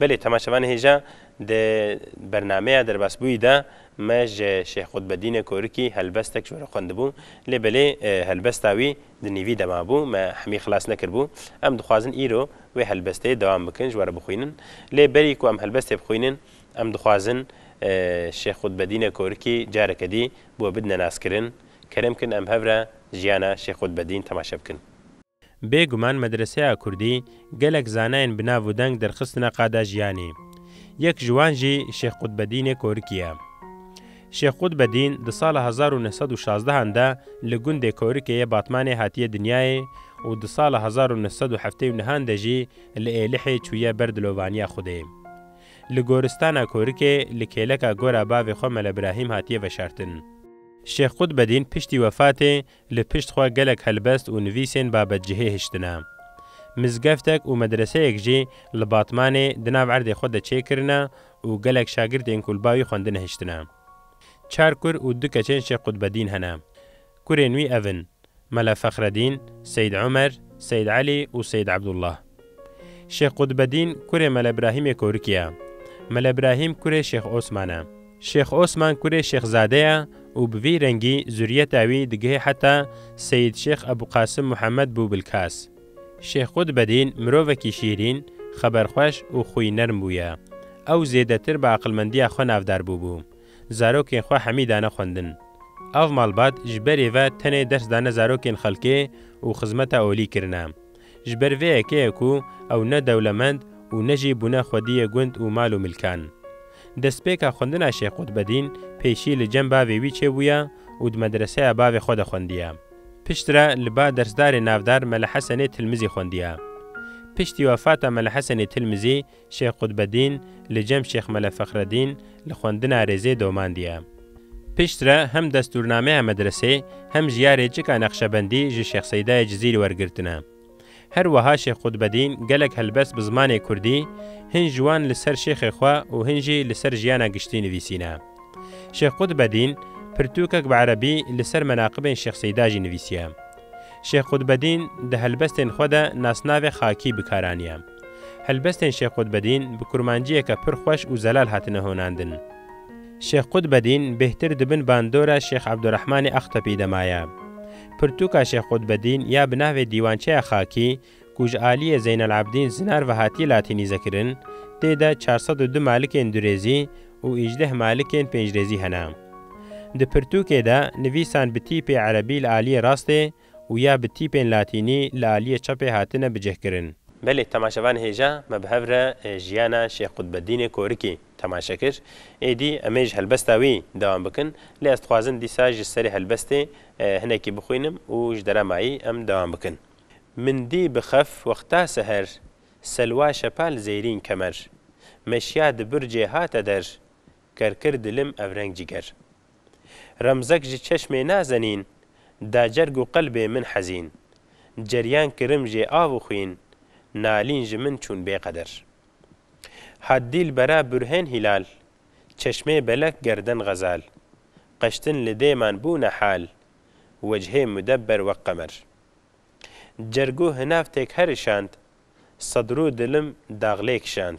Belê temaşevanê hêja di bernameya derbasbûyî de me ji Şêx Qutbedînê Korikî helbestek ji we re xwendibû lê belê helbesta wî di nîvî de mabû me hemî xilas nekiribû. Em dixwazin îro wê helbestê dewam bikin ji we re bixwînin lê berî ku em helbestê bixwînin em dixwazin Şêx Qutbedînê Korikî careke dî bi we bidine naskirin. Kerem kin em hev re jiyana Şêx Qutbedîn temaşe bikin. Bê guman medreseya kurdî gelek zanayên bi nav û deng derxistine qada jiyanê. Yek ji wan jî Şêx Qutbedînê Korikî ye. Şêx Qutbedîn di sala hezar û neh sed û şazdeh an de li gundê Korikê yê Batmanê hatiye dinyayê û di sala hezar û neh sed û heftê û neh an de jî li Êlihê çûye ber dilovaniya Xwedê. Li goristana Korikê li kêleka gora bavê xwe Mele Birahîm hatiye veşartin. Şêx Qutbedîn piştî wefatê Li pişt xwe gelek helbest û nivîsên babetcihê hiştine. Mizgeftek û medreseyek jî li Batmanê di nav erdê xwe de çêkirine û gelek şagirtên ku li bavî xwendine hiştine. Çar kur û du keçên Şêx Qutbedîn hene. Kurên wî ev in, Mele Fexredîn, Seyîd Omer, Seyîd Elî û Seyîd Ebdullah. Şêx Qutbedîn kurê Mele Brahîmê Korikî ye. Mele Brahîm kurê Şêx Osman e. Şêx Osman kurê Şêx Zade ye û bi vî rengî zurîyeta wî digihê heta Seyîd Şêx Ebû Qasim Muhammed bû Bilkas. Şêx Qutbedîn mirovekî şîrîn, xeberxweş û xwî nerm bûye. Ew zêdetir bi aqilmendîya xwe navdar bûbû. Zarokên xwe hemî dane xwendin. Av malbat ji berê ve tenê ders dane zarokên xelkê û xizmeta olî kirine. Ji ber vê yekê ku ew ne dewlemend û ne jî bûne xwediyê gund û mal û milkan. Destpêka xwendina Şêx Qutbedîn pêşî li cem bavê wî çêbûye û di medreseya bavê xwe de xwendiye. Piştre li ba dersdarê navdar Mele Hesenê Tilmizî xwendiye. Piştî wefata Mele Hesenê Tilmizî Şêx Qutbedîn li cem Şêx Mele Fexredîn li xwendina rêzê domandiye. Pişt re hem destûrnameya medresê hem jî ya rêçika Neqşebendî ji Şêx Seydayê Cizîrî wergirtine. Her wiha Şêx Qutbedîn gelek helbest bi zimanê kurdî, hin ji wan li ser şêxê xwe û hin jî li ser jiyana giştî nivîsîne. Şêx Qutbedîn pirtûkek bi erebî li ser menaqibên Şêx Seyda jî nivîsiye. Şêx Qutbedîn di helbestên xwe de nasnavê Xakî bi kar aniye. Helbestên Şêx Qutbedîn bi kurmanciyeke pir xweş û zelal hatine honandin. Şêx Qutbedîn bêhtir di bin bandora Şêx Ebdurehmanê Axtepî de maye. Pirtûka Şêx Qutbedîn ya bi navê Dîwançeya Xakî ku ji aliyê Zeynelabdîn Zinar ve hatiye latînîzekirin, tê de çar sed û du malikên durêzî û îjdeh malikên pêncrêzî hene. Di pirtûkê de nivîsan bi tîpê erebî li aliyê rastê, û ya bi tîpên latînî li aliyê çepê hatine bicihkirin. Belê temaşevan hêja me bi hev re jiyana Şêx Qutbeddînê Korikî temaşe kir. Êdî em ê ji helbesta wî dewam bikin. Lê ez dixwazim dîsa ji serê helbestê hinekî bixwînim û ji dera mayî em dewam bikin. Min dî bi xef wexta seher Selwa şepa li zêrîn kemer Meşiya di bircê hate der Kerkir dilim evreng ciger. Remzek ji çeşmê nazenîn Da cerg û qelbê min hezîn Ceryan kirim jê av û xwîn Nalîn ji min çûn bêqeder Hat dîlbera burhên hîlal Çeşmê belek gerden xezal Qeştin li dêman bûne hal Wecihê mudebber wek qemer Cerg û hinavtêk herişand Sedrû dilim daxlê kişand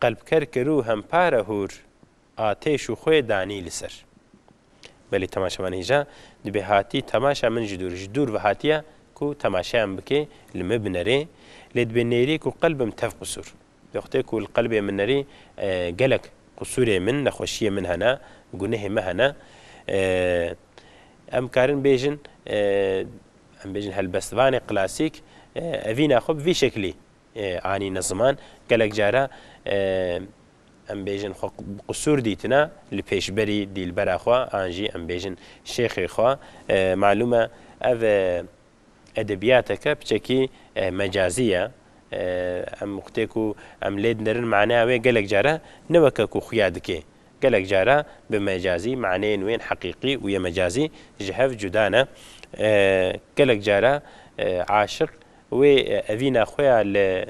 Qelpker kir û hempare hûr atêş û xwe danî li ser. Belê temaşe man hêja, dibê hatî temaşa min ji dûr, ji dûr ve hatiye ku temaşeya min bike, li me binerê, lê dibê nêrî ku qelbim tev qisûr. Wextê ku li qelbê min nerî, gelek qisûrê min, nexweşiyê min hene, gunehê me hene. Em karin bêjin, em bêjin helbestvanê klasîk evîna xwe bi vî şeklî anîne ziman, gelek care em bêjin xwe bi qisûr dîtine li pêşberî dîlbera xwe an jî em bêjin şêxê xwe. Malûm e ev edebiyateke piçekî mecazî ye. Em xwtê ku em lê dinerin maneya wê gelek care ne weke ku xuya dikê. Gelek care bi mecazî maneyên wê yên heqîqî û yê mecazî ji hev cuda ne. Gelek care aşiq Wê evîna xwe ya li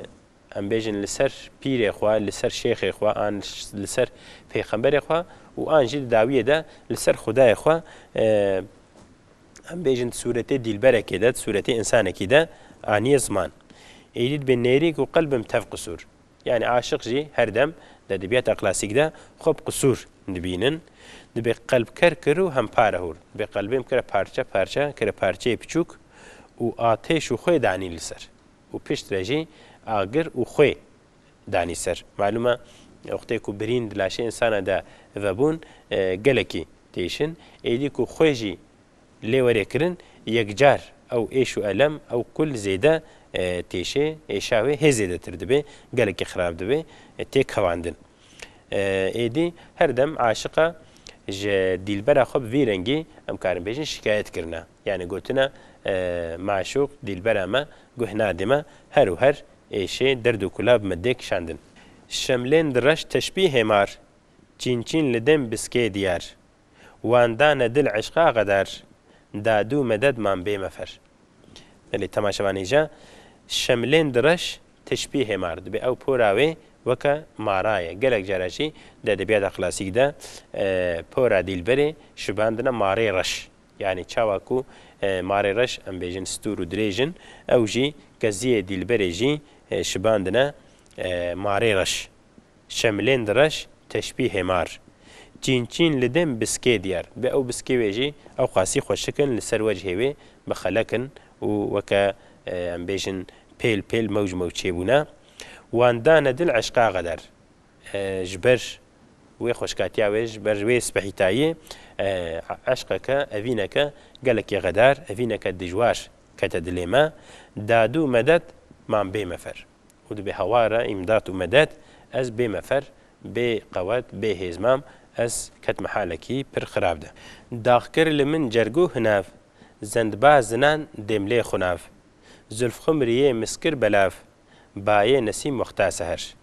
em bêjin li ser pîrê xwe, li ser şêxê xwe an li ser peyxemberê xwe û an jî di dawiyê de li ser xwedayê xwe em bêjin di sûretê dîlberekê de, di sûretê însanekî de aniye ziman. Êdî dibe nêrîk û qelbim tev qisûr. Yanî aşiq jî her dem di edebiyata klasîk de xwe bi qisûr dibînin. Dibê qelb ker kir û hempare hûr. Dibê qelbên bikire parçe parçe, kire parçeyê piçûk û atêş û xwê danî li ser û pişt re jî agir û xwê danî ser. Malûm e wextê ku birîn di laşê însana de vebûn gelekî têşin. Êdî ku xwê jî Lêwerêkirin yekcar ew êş û elem ew kul zêde têşê, êşa wê hê zêdetir dibê, gelekî xirab dibê, tê kevandin. Êdî her dem aşiqa ji dîlbera xwe bi vî rengî em karin bêjin şikayet kirina. Yanî gotina maşûq, dîlbera me, guh nadê me, her û her êşê, derd û kula bi me dê kişandin. Şemlên di reş teşbî hêmar, çîn çîn li dêm biskê diyar, Wan dane dil eşqa qeder, Dadu meded man bê mefer. Belê temaşe van îja, Şemlên di reş, tişpî hêmar. Dibê ew pora wê weke mara ye. Gelek cara jî di edebiyata klasîk de pora dîlberê şibandine marê reş. Yanî çawa ku marê reş em bêjin stûr û dirêj in, ew jî keziyê dîlberê jî şibandine marê reş. Şemilên di reş teşbî hêmar. Çîn çîn li dêm biskê diyar bi ew biskê wê jî ew qasî xwe şikin li ser wecihê wê bixelekin û weke em bêjin pêl pêl mewc mewçê bûne. Wan dane dil eşqa xeder ji ber wê xweşkatiya wê ji ber wê spehîtayî eşqeke evîneke gelekî xedar evîneke dijwar kete dilê me. Dadu medet man bê me fer. Û dibê hawar e îmdat û medet, ez bê mefer, bê qewet, bê hêz mam, ez ketime halekî pir xirab de. Dax kir li min cergû hinev, zendba zinan dêmlê xwe nav. Zulf xwe miriyê mis kir belav, bayê nesîm wexta seher.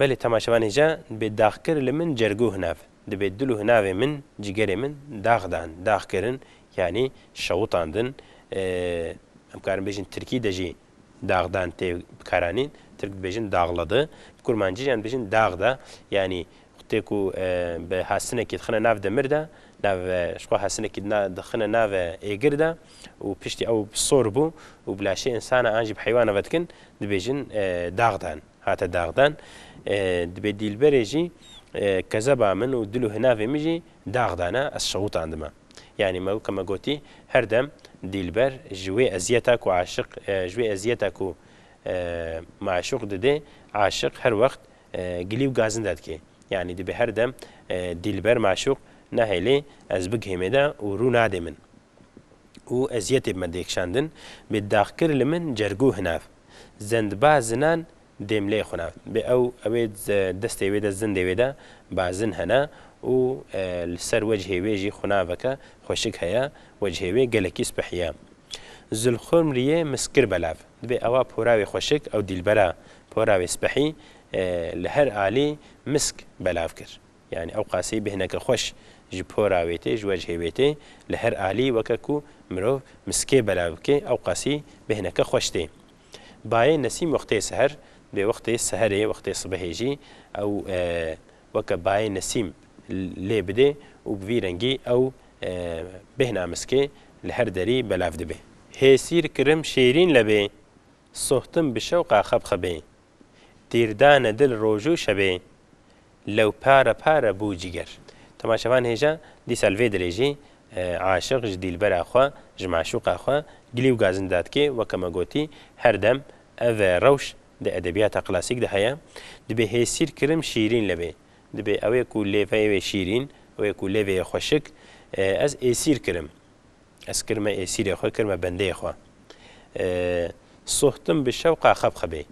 Belê temaşevanê ja dibê dax kir li min cergû hinev, dibê dil û hinavê min, cîgerê min dax dan, dax kirin yanî şewitandin, em karin bêjin tirkî de jî, Daxdan tê bikaranîn, tirk dibêjin daxladı, bi kurmancî jî em dibêjin daxda, yanî tê ku bi hasinekî dixine nav demir de, nav ji xwe hasinekî dixine nav êgir de û piştî ew sor bû û bi laşê insana an jî bi heywana ve dikin, dibêjin daxdan, hate daxdan. Dibê dîlberê jî kezeba min û dil û hinavê min jî daxdan e, ez şewitandime. Yanî me weke me gotî her dem dîlber ji wê eziyeta ku aşiq ji wê eziyeta ku maşûq didê aşiq her wext gilî û gazinda dike. Yanî dibe her dem dîlber maşûq nahêlê ez bigihê me de û rû nadê min û eziyetê bi me dê kişandin bê daxkir li min cergû hinav zendba zinan Dêmlê xwe ne. Bê ew ewê destê wê de zindê wê de bazin hene û li ser wecihê wê jî xunaveke xweşik heye, wecihê wê gelekî spih ye. Zilxurmriyê mis kir belav. Dibê ewa pora wê xweşik ew dîlbera pora wê spihî li her alî misk belav kir. Yanî ew qaseyî bi hineke xweş ji pora wê tê, ji wecihê wê tê. Li her alî weke ku mirov miskê belav bike ew qasî bi hineke xweş tê. Bayê Nesîm wextê seher bê wextê seherê wextê sibehê jî ew weke bayê Nesîm lê bidê û bi vî rengî ew bêhna miskê li her derî belav dibê. Hêsîr kirim şêrîn lebê. Sohtim bi şewqa xebxebê. Tîr dane dil roj û şebê. Lew pare pare bû cîger. Dema şevan hêja, dîsa li vê dilê jî aşiq ji dîlbera xwe, ji meşûqa xwe gilî û gazin didatKê weke me gotî, her dem ev rewş di edebiyata klasîk de heye, dibê hêsîr kirin şîrîn li bê. Dibê ew ê ku lêveyê wê şîrîn, ew ê ku lêveyê xweşik, ez êsîr kirim. Ez kir me êsîrê xwe, kir me bendeyê xwe. Sohtim bi şewqa xebxebê.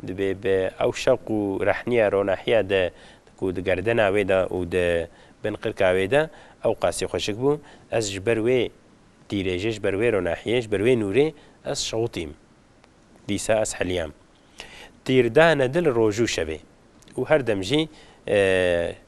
Divê bi ew şewq û rehniya ronahiya de ku di gerdena wê de û di bin qirka wê de ew qasî xweşik bû, ez ji ber wê dîrêjê, ji ber wê ronahiyê, ji ber wê nûrê ez şewitîm. Dîsa ez heliyam. Tîrdane dil roj û şevê û her dem jî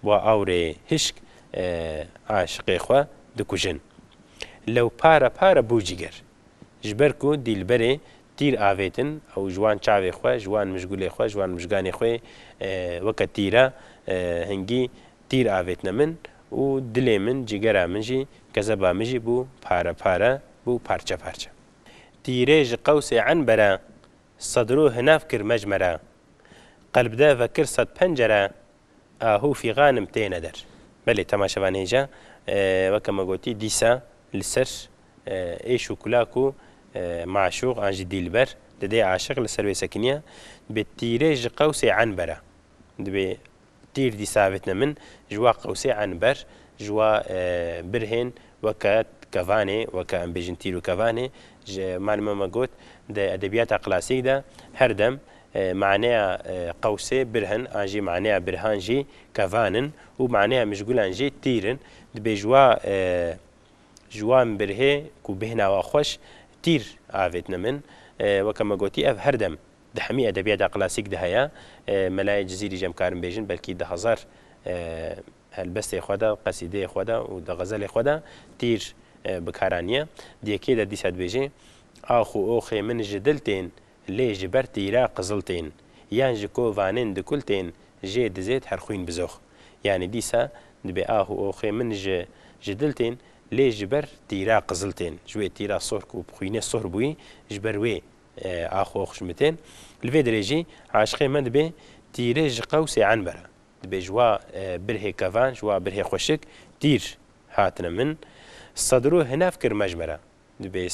Wa awrê hişk aşiqê xwe dikujin. Lew pare pare bû ciger. Ji ber ku dîlberê tîr avêtin ew ji wan çavê xwe, ji wan mijgulê xwe, ji wan mijganê xwê weke tîra hingî tîr avêtine min û dilê min, cigera min jî, kezeba min jî bû pare pare, bû parçe parçe. Tîrê ji qewsê enbere sedrû hinav kir mecmere. Qelbde vekir sedpencere Ahu fîxanim têne der. Belê temaşevan hêja weke me gotî dîsa li ser êş û kula ku maşûq an jî dîlber didê aşiq li ser wê sekiniya dibê tîrê ji qewsê enbera dibê tîr dîsa vetine min ji wa qewsê enber ji wa birhên weke kevanê weke em bêjin tîr û kevanê ji malime me got di edebiyata klasîk de her dem Maneya qewsê birhin an jî maneya birhan jî kevan in û maneya mijgulan jî tîr in. Dibêjwa ji wan birhê ku bihna wa xweş tîr avêtine min. Weke me gotî ev her dem di hemî edebiyata klasîk de heye. Melayê Cizîrî jî em karin bêjin belkî di hezar helbestê xwe de, qesîdeyê xwe de û di xezelê xwe de tîr bi kar aniye. Di yekê de dîsa dibêje, Ax û oxê min ji dil tên lê ji ber tîra qizil tên, yan ji ko vanên di kul tên jê dizêt her xwîn bizox. Yanî dîsa dibê ah û oxê min ji ji dil tên, lê ji ber tîra qizil tên. Ji wê tîra sohr ku bi xwînê sohr bûyî, ji ber wê ax û ox ji min tên. Li vê dirê jî aşiqê me dibê tîrê ji qewsê enbera. Dibê ji wa birhê kevan, ji wa birhê xweşik tîr hatine min. Sedro hinev kir mejmera. Di bê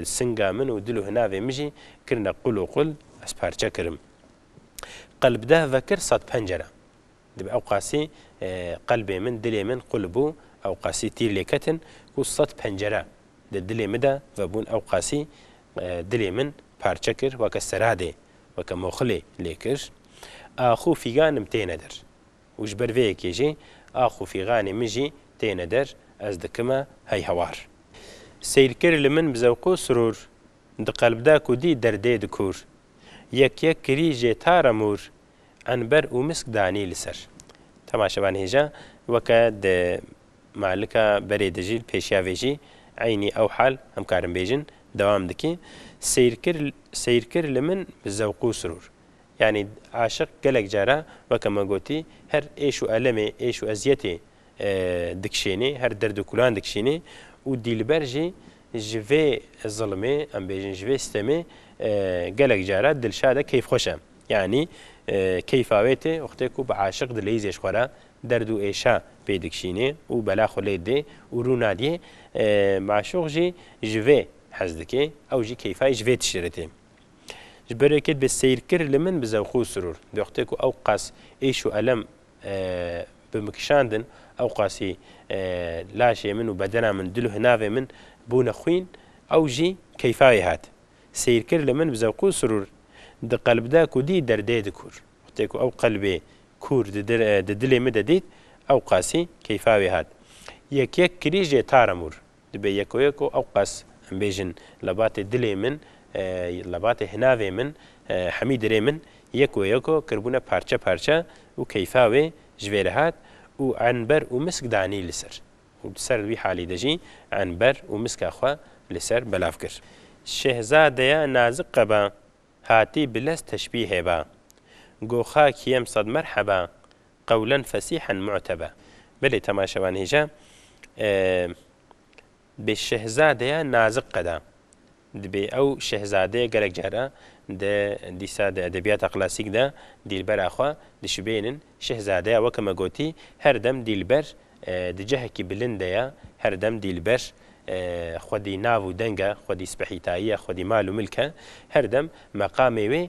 singa min û dil û hinavê min jî kirine qul û qul, ez parçe kirim. Qelb deh vekir sed pencere. Di bê ewqasî qelbê min, dilê min qul bû, ewqasî tîr lê ketin ku sed pencere di dilê min de vebûn, ewqasî dilê min parçe kir, weke seradê, weke moxilê lê kir. Axû fîganim têne der. Û ji ber vê yekê jî ax û fîganê min jî têne der, ez dikime hey hewar. Seyrkir li min bi zewq û sirûr, di qelb de ku dî derdê di kûr. Yek yek kirî jê tare mûr, enber û misk danî li ser. Temaşevan hêja weke di malika berê de jî li pêşiya vê jî eynî ew hal em karin bêjin, dewam dikî, Seyrkir seyrkir li min bi zewq û sirûr, Yanî aşiq gelek caran weke me gotî her êş û elemê, êş û eziyetê dikişênê, her derd û kulan dikişînê û dîlber jî ji vê zilmê em bêjin ji vê stemê gelek caran dilşad e, keyfxweş e. Yanî keyfa wê tê wextê ku bi aşiq di leyîzê ji xwe re derd û êşa pê dikişînê û bela xwe lê didê û rû nadiyê. Maşûq jî ji vê hez dikê, ew jî keyfa yê ji vê tiştê re tê. Ji ber wê ket bê seyrkir li min bi zewq û sirûr. Di wextê ku ew qas êş û elem bi min kişandin, ew qasî laşê min û bedena min dil û hinavê min bûne xwîn, ew jî keyfa wê hat. Seyrkir li min bi zewq û sirûr di qelbda ku dît derdê dikûr. Wextê ku ew qelbê kûr di dilê min de dît, ew qasî keyfa wê hat. Yek yek kirî jê taramûr. Dibe yekoyeko ew qas em bêjin lebatê dilê min, lebatê hinavê min, hemî dirê min yekoyeko kirbûne parçe parçe û keyfa wê ji vê re hat û enber û misk danî li ser û di ser wî halî de jî enber û miska xwe li ser belav kir. Şehzadeya nazik qeba, hatî bilez teşbîhê ba. Goxa kîyem sed merheba, Qewlen fesîhen mu'tebe. Belê temaşevan hêja bi şehzadeya nazik qeda. Dibê ew şehzadeyê gelek cara di dîsa di edebiyata klasîk de dîlbera xwe dişibênin. Şehzadeya weke me gotî her dem dîlber di cehekî bilind de ye, her dem dîlber xwedî nav û deng e, xwedî spehîtayî ye, xwedî mal û milk e. Her dem meqamê wê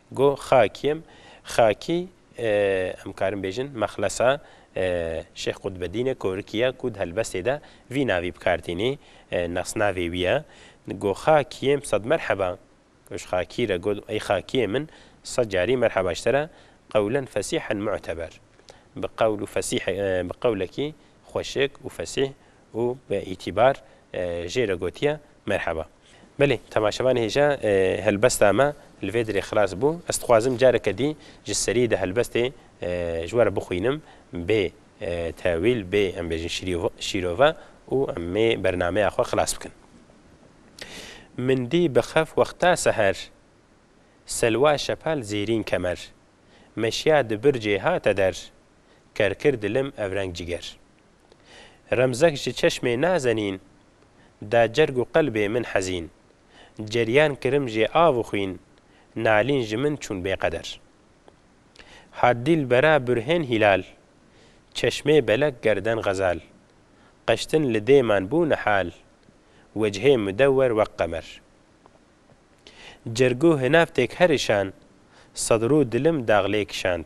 Go Xakiyem, Xakî em karin bêjin mexlesa Şêx Qutbedîne Korikî ye ku di helbestê de vî navî bi kar tînî, nasnavê wî ye. Go Xakiyem sed merheba ji Xakî re go ey Xakiyê min sed carî merheba ji te re qewlen fesîhen mu'teber bi qewl û fesîh bi qewlekî xweşik û fesîh û bi îtîbar jê re gotiye merheba. Belê, temaşevanê hêja helbesta me li vê dirê xilas bû. Ez dixwazim careke dî ji serî di helbestê ji we re bixwînim bê tewîl, bê em bêjin şîrove û em ê bernameya xwe xilas bikin. Min dî bi xef wexta seher, Selwa şepal zêrîn kemer, meşiya di bircê hate der, kerkir dilim evreng ciger. Remzek ji çeşmê nazenîn Da cerg û qelbê min hezîn Ceryan kirim jê av û xwîn Nalîn ji min çûn bêqeder Hat dîlbera burhên hîlal Çeşmê belek gerden xezal Qeştin li dêman bû nihal Wecihê mudewer weq qemer Cerg û hinavtêk her îşand Sedrû dilim daxlê kişand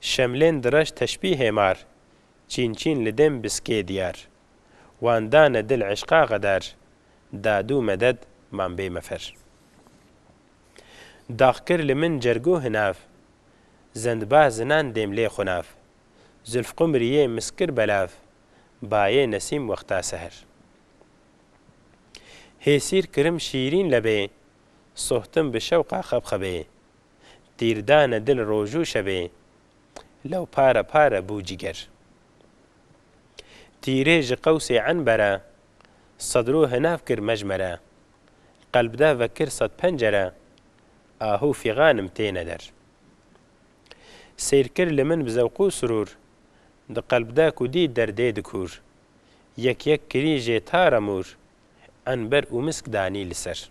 Şemlên direş teşbî hêmar, çîn çîn li dêm biskê diyar. Wan dane dil eşqa xedar, dadû meded man bê mefer. Dax kir li min cergû hinav, zendbah zinan dêm lê xunav. Zulf qumrî yê misk kir belav, bayê nesîm wexta seher. Hêsîr kirim şîrîn lebê, sohtim bi şewqa xebxebê. Tîr dane dil rojû şevê. Lew pare pare bû cîger. Tîrê ji qewsê enbere. Sed rû hinav kir mejmere. Qelb de vekir sed pencere. Ahû fîxanim têne der. Seyr kir li min bi zewq û surûr. Di qelb de ku dît derdê di kûr. Yek yek kirî jê tare mûr. Enber û misk danî li ser.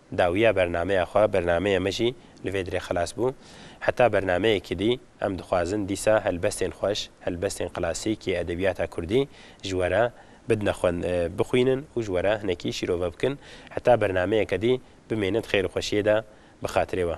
Dawiya bernameya xwe, bernameyê me jî li vê dirê xilas bû. Heta bernameyekî dî em dixwazin dîsa helbestên xweş, helbestên klasîk yê edebiyata kurdî ji we re bidne xwend, bixwînin û ji we re hinekî şîrove bikin. Heta bernameyeke dî bimêne di xêr û xweşiyê de bi xatirê we.